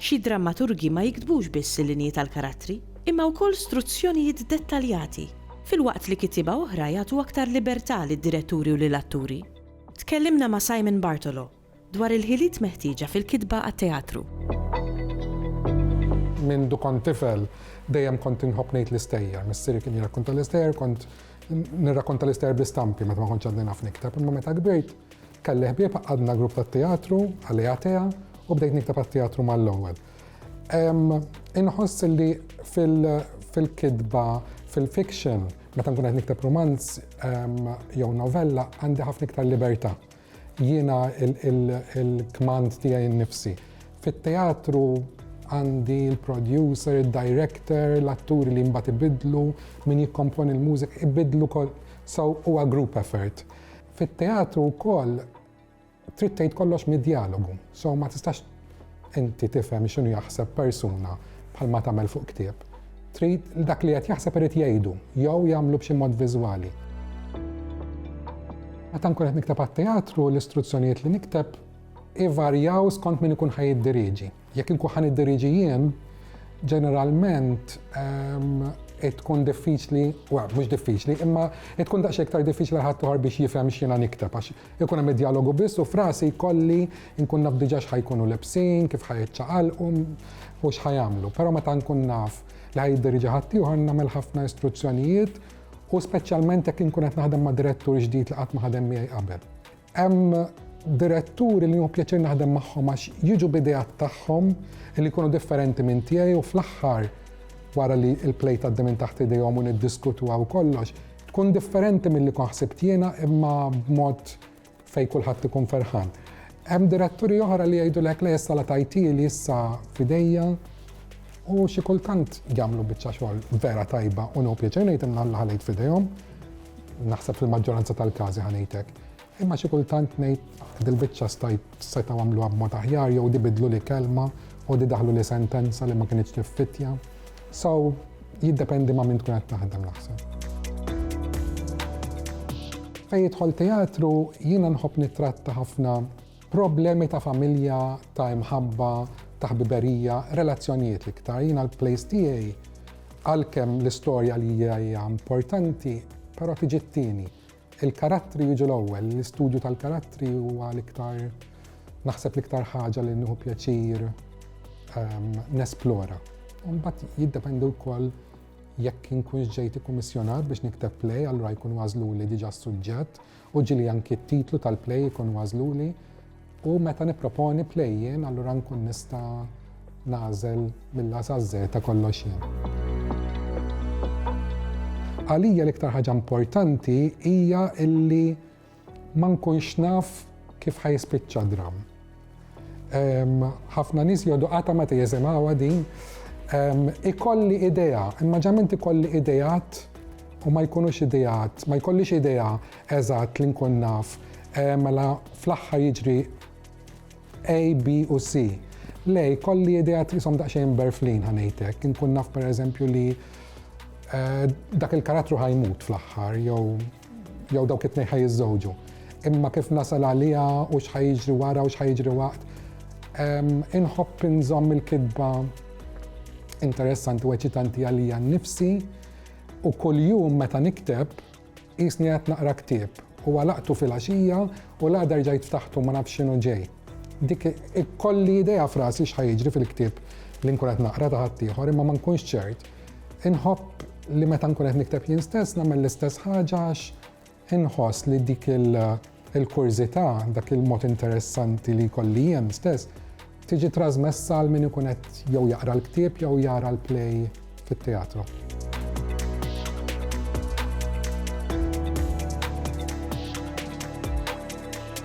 Xi drammaturgi ma jiktbux biss il-linji tal-karattri, imma wkoll struzzjonijiet dettaljati, filwaqt li kittieba oħra jagħtu aktar libertà lid-diretturi u lill-atturi. Tkellimna ma' Simon Bartolo dwar il-ħiliet meħtieġa fil-kitba għat-teatru. Mindu kont tifel, dejjem kont inħobb ngħid l-istejjer. Missieri kien jirrakkonta l-istejjer, kont nirrakkonta l-istejjer bl-istampi meta ma kontx għadni naf nikteb, imma meta kbirt, Kelli ħbieb għaqqadna grupp tat-teatru, Alea Tea, u bdejt nikteb għat-teatru mal-ewwel. Inħoss li fil-kitba, fil-fiction, meta nkun qed nikteb rumanz jew novella, għandi ħafna iktar libertà. Jiena l-kmand tiegħi nnifsi. Fit-teatru għandi l-producer, id-director, l-atturi li mbagħad ibiddlu, min jikkomponi l-mużika, ibiddlu, so huwa group effort. Fit-teatru wkoll trid tgħid kollox mid-djalogu, so ma tistax inti tifhem x'inhu jaħseb persuna bħalma tagħmel fuq ktieb. Trid dak li qed jaħseb irid jgħidu jew jagħmlu b'xi mod viżwali. Meta nkun qed nikteb għat-teatru, l-istruzzjonijiet li nikteb ivarjaw skont min ikun ħa jiddiriġi. Jekk inkun ħa niddirieġi jien, ġeneralment tkun diffiċli, wa, mhux diffiċli, imma tkun daqs iktar diffiċli għal ħadd biex jifhem x'jiena nikteb għax ikun hemm id-dialogu biss u frasi jkolli nkun naf diġà x'ħajkunu lebsin, kif ħajiċċaqalqu u x'ħajamlu. Però meta nkun naf li ħajiddirieġi ħadd ieħor nagħmel ħafna istruzzjonijiet u speċjalment jekk inkun qed naħdem ma' direttur ġdid li qatt ma ħadem miegħi qabel. Hemm diretturi li hu pjaċir naħdem magħhom għax jiġu b'idejat tagħhom li jkunu differenti minn tiegħi u fl-aħħar wara li l-play tgħaddi minn taħt idejhom u niddiskutuha u kollox, tkun differenti milli kon ħsibt jiena imma b'mod fejn kulħadd ikun ferħan. Hemm diretturi oħra li jgħidulek le issa la tajti li issa fidejja u xi kultant jagħmlu biċċa xogħol vera tajba u nhu pjaċir ngħid imma ħalejt f'idejhom. Naħseb fil-maġġoranza tal-każi ħa ngħid hekk. Imma xi kultant ngħid dil-biċċa stajt setgħu għamluha b'mod aħjar jew di bidlu li kelma u di daħlu li sentenza li ma kinitx tiffittja. So jiddependi ma' min tkun qed taħdem naħseb. Fejn jidħol teatru jiena nħobb nittratta ħafna Problemi ta' familja, ta' imħabba, ta' ħbiberija, relazzjonijiet l-iktar. Jiena l-place tiegħi għalkemm l-istorja li hija hija importanti, però tiġi t-tieni. Il-karattri jiġu l-ewwel, l-istudju tal-karattri huwa l-iktar naħseb l-iktar ħaġa li nieħu pjaċir ehm, nesplora. Mbagħad jiddependi wkoll jekk inkunx ġejt ikkummissjonat biex nikteb play, allura jkun għażlu li diġà suġġett U ġieli anki t-titlu tal-play ikun għażluli u meta nipproponi play jien allura nkun nista' nagħżel mill-A saż-Z kollox jien. Għalija l-iktar ħaġa importanti hija illi ma nkunx naf kif ħa jispiċċa dramm. ħafna nies jgħodu qatta ma teżemawha din. Ikolli idea, imma ġament ikolli ideat u ma jkunux ideat, ma jkollix idea eżatt li nkun naf, mela fl-aħħar jiġri A, B u C. Le, jkolli ideat jisom daqsxejn berflin ħanejtek, nkun naf pereżempju li eh, dak il-karattru ħajmut fl-aħħar jew Jew dawk it-tnejn ħaj jiżżewġu. Imma kif nasal għaliha u x'ħaj jiġri wara u x'ħaj jiġri waqt. Inħobb inżomm il-kitba interessanti u eċitanti għalija nnifsi u kuljum meta nikteb jisni qed naqra ktieb u għalaqtu fil-għaxija u l-għada rġajt ftaħtu ma nafx x'inhu ġej. Dik ikolli idea frasi x'ħajġri fil-ktieb li nkun qed naqra ta' ħaddieħor imma ma nkunx ċert. Inħobb li meta nkun qed nikteb jien stess nagħmel l-istess ħaġa għax inħoss li dik il-kurżità, dak il-mod interessanti li jkolli jien stess, tiġi trasmessa għal min ikun qed jew jaqra l-ktieb jew jara l-play fit-teatru.